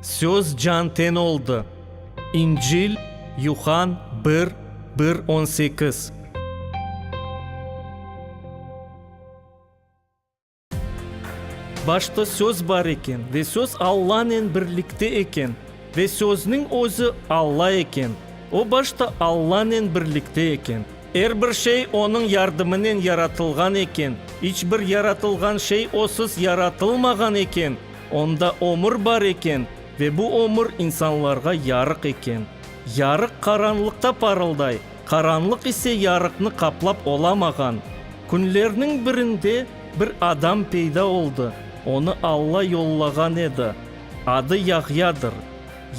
Söz can-ten oldı. İncil, Yuhan bir, bir on sekiz. Başta Söz bar eken, ve Söz Allanen birlikte eken, ve Sözniñ özü Alla eken. O başta Allanen birlikte eken. Er bir şey onıñ yardımınen yaratılğan eken, iç bir yaratılğan şey osız yaratılmağan eken, onda ömür bar eken ve bu ömür insanlarğa yarıq eken. Yarıq qaranlıqta parılday, qaranlıq ise yarıqnı qaplap olamağan. Künlerniñ birinde bir adam peyda oldı, onı Alla yollağan edi. Adı Yahyadır.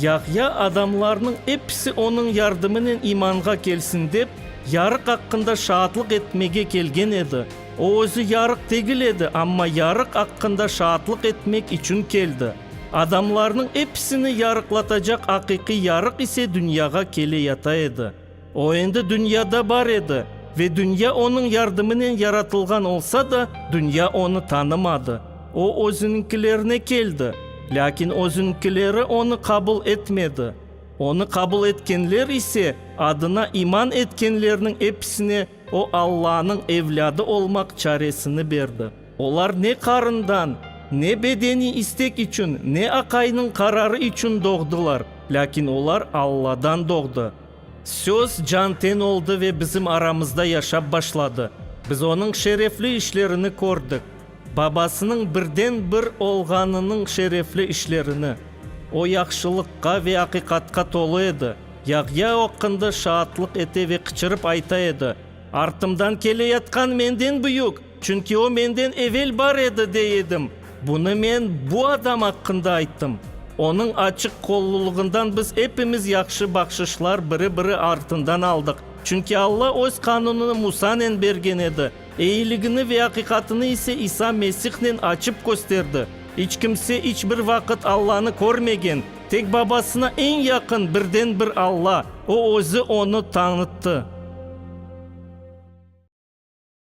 Yahya adamlarnıñ episi onıñ yardımınen imanğa kelsin dep, yarıq aqqında şaatlıq etmege kelgen edi. O özü yarıq degil edi, amma yarıq aqqında şaatlıq etmek içün keldi. Adamlarnıñ episini yarıqlatacaq aqiqiy yarıq ise dünyağa kele yata edi. O endi dünyada bar edi, ve dünya onıñ yardımınen yaratılğan olsa da, dünya onı tanımadı. O özüniñkilerine keldi, lâkin özüniñkileri onı qabul etmedi. Onı qabul etkenler ise, adına iman etkenlerniñ episine o Allanıñ evlâdı olmaq çaresini berdi. Olar ne qarından, ne bedeniy istek içün, ne aqaynıñ qararı içün doğdılar, lâkin olar Alladan doğdı. Söz can-ten oldı ve bizim aramızda yaşap başladı. Biz onıñ şerefli işlerini kördik. Babasınıñ birden-bir olğanınıñ şerefli işlerini. O yahşılıqqa ve aqiqatqa tolu edi. Yahya oqqında şaatlıq ete ve qıçırıp ayta edi, Artımdan keleyatqan menden büyük! Çünki o menden evel bar edi, dey edim. Bunı men bu adam aqqında ayttım. Onıñ açıq qollulığından biz epimiz yahşı bahşışlar biri-biri artından aldıq. Çünki Alla öz qanunını Musanen bergen edi, eyiligini ve aqiqatını ise İsa Mesihnen açıp kösterdi. İç kimse iç bir vaqıt Allanı körmegen, tek Babasına eñ yaqın birden bir Alla, O özü onı tañıttı.